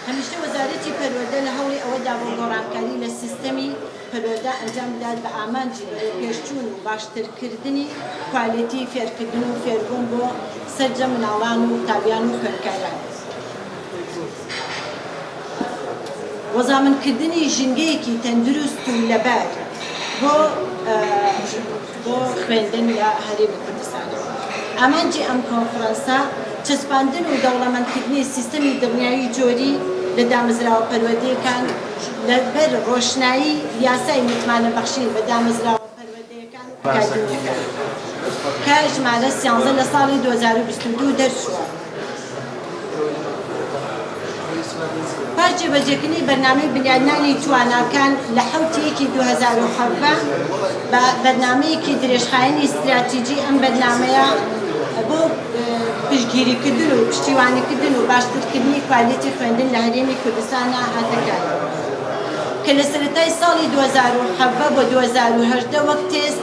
هەمیشە وەزارەتی پەروەردە لە هەوڵی ئەوە دابووە گۆڕانکاری لە سیستەمی پەروەردە ئەنجام بدات بە ئامانجی بەرەوپێشچوون و باشترکردنی کوالێتی فێرکردن و فێربوون بۆ سەرجەم مناڵان و قوتابیان و خوێندکاران بۆ زامنکردنی ژینگەیەکی تەندروست و لەبار بۆ بۆ خوێندن لە هەرێمی کوردستانەوە. ئامانجی ئەم کۆنفرەنسە چەسپاندن و دەوڵەمەندکردنی سیستەمی دڵنیایی جۆری لە دامەزراوە پەروەردەیەکان لە بەر ڕۆشنایی یاسای متمانە بەخشین بە دامەزراوە پەروەردەیەکان و ئەکادیمییەکان کە ژمارە سیانزە لە ساڵی دوو هەزار و بیست و دوو دەرچووە. پاش جێبەجێکردنی بەرنامەی بنیادنانی تواناکان لە حەوتی یەکی دوو هەزار و حەڤدە بە بەرنامەیەکی درێژخایەنی ستراتیجی ئەم بەرنامەیە بۆ پشتگیریکردن و پشتیوانیکردن و باشترکردنی کوالیتی خوێندن لە هەرێمی کوردستانە هاتەکار کە لە سەرەتای ساڵی دوو هەزار و حەڤدە بۆ دوو هەزار و هەژدە وەک تێست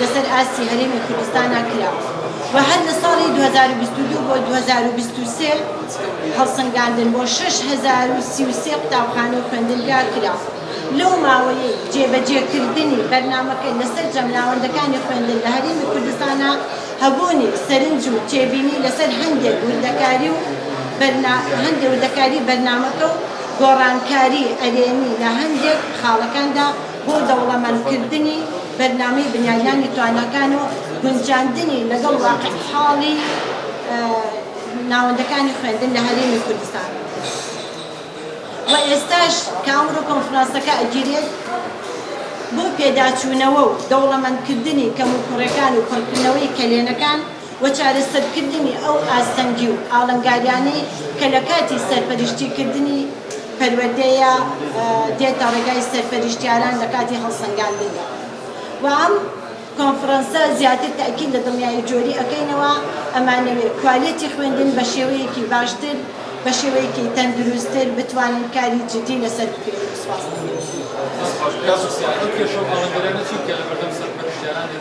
لەسەر ئاستی هەرێمی کوردستانا کرا و هەر لە ساڵی دوو هەزار و بیست و دوو بۆ دوو هەزار و بیست و سێ هەڵسەنگاندن بۆ شەش هەزار و سی و سێ قوتابخانە و خوێندنگا کرا. لەو ماوەیەی جێبەجێکردنی بەرنامەکە لە سەرجەم ناوەندەکانی خوێندن لە هەرێمی کوردستانا هەبوونی سەرنج و تێبینی لەسەر هەندێک وردەکاری و هەندێک وردەکاری بەرنامەکە و گۆڕانکاری ئەرێنی لە هەندێک خاڵەکاندا بۆ دەوڵەمەندکردنی بەرنامەی بنیادنانی تواناکان و گونجاندنی لەگەڵ واقعحاڵی ناوەندەکانی خوێندن لە هەرێمی کوردستان و ئێستاش کە ئەمڕۆ کۆنفرانسەکە ئەگیرێت بۆ پێداچوونەوە و دەوڵەمەندکردنی کەموکوڕەکان و پڕکردنەوەی کەلێنەکان و چارەسەرکردنی ئەو ئاستەنگی و ئاڵنگاریانەی کە لە کاتی سەرپەرشتیکردنی پەروەردەیە دێتە ڕێگای سەرپەرشتیاران لە کاتی هەڵسەنگاندندا و ئەم کۆنفرەنسە زیاتر تەئکید لە دڵنیایی جۆری ئەکەینەوە ئەمانەوێ کوالێتی خوێندن بە شێوەیەکی باشتر بە شێوەیەکی تەندروستتر بتوانین کاری جدی لەسەر بکەین سپاس.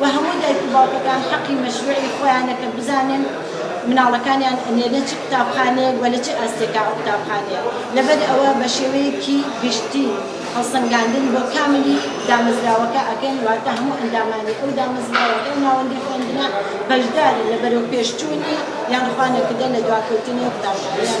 و هەموو دایک و باوکەکان حەقی مەشروعی خۆیانە کە بزانن مناڵەکانیان ئەنێرنە چ قوتابخانەیەک و لە چ ئاستێکا ئەو قوتابخانەیە لەبەر ئەوە بە شێوەیەکی گشتی هەڵسەنگاندن بۆ کاملی دامەزراوەکە ئەکەین واتە هەموو ئەندامانی ئەو دامەزراوە ئەو ناوەندی خوێندنە بەشدارن لە بەرەوپێشچوونی یان خوا نەکردە لە دواکەوتنی ئەو قوتابخانەیان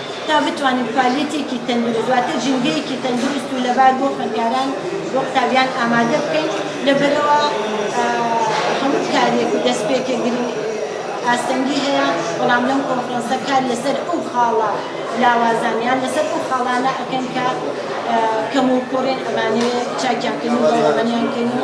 تا بتوانن کوالیتێکی تەندروست واتە ژینگەیەکی تەندروست و لەبار بۆ خوێندکاران بۆ قوتابیان ئامادە بکەین لەبەرەوە هەموو کارێک و دەستپێکێک گرنگ ئاستەنگی هەیە بەڵام لەم کۆنفرەنسە کار لەسەر ئەو خاڵە لاوازانیان لەسەر ئەو خاڵانە ئەکەن کە کەم و کوڕێن ئەمانەیە چاکیان کەن و دەوڵەمەنیان کەن و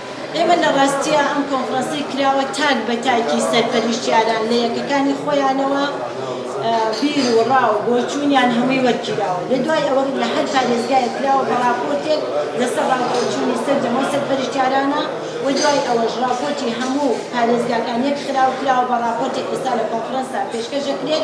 ئێمە لە ڕاستیا ئەم کۆنفرانسەی کراوە تاک بە تاکی سەرپەرشتیاران لە یەکەکانی خۆیانەوە بیر و ڕا و بۆچوونیان هەمووی وەرگیراوە لە دوای ئەوە لە هەر پارێزگایە کراوە بە ڕاپۆرتێک لەسەر ڕاوپۆچوونی سەرجەمەو سەرپەرشتیارانە و دوای ئەوەش ڕاپۆرتی هەموو پارێزگاکان یەک خراو کراوە بە ڕاپۆرتێک ئێستا لە کۆنفرانسدا پێشکەش دەکرێت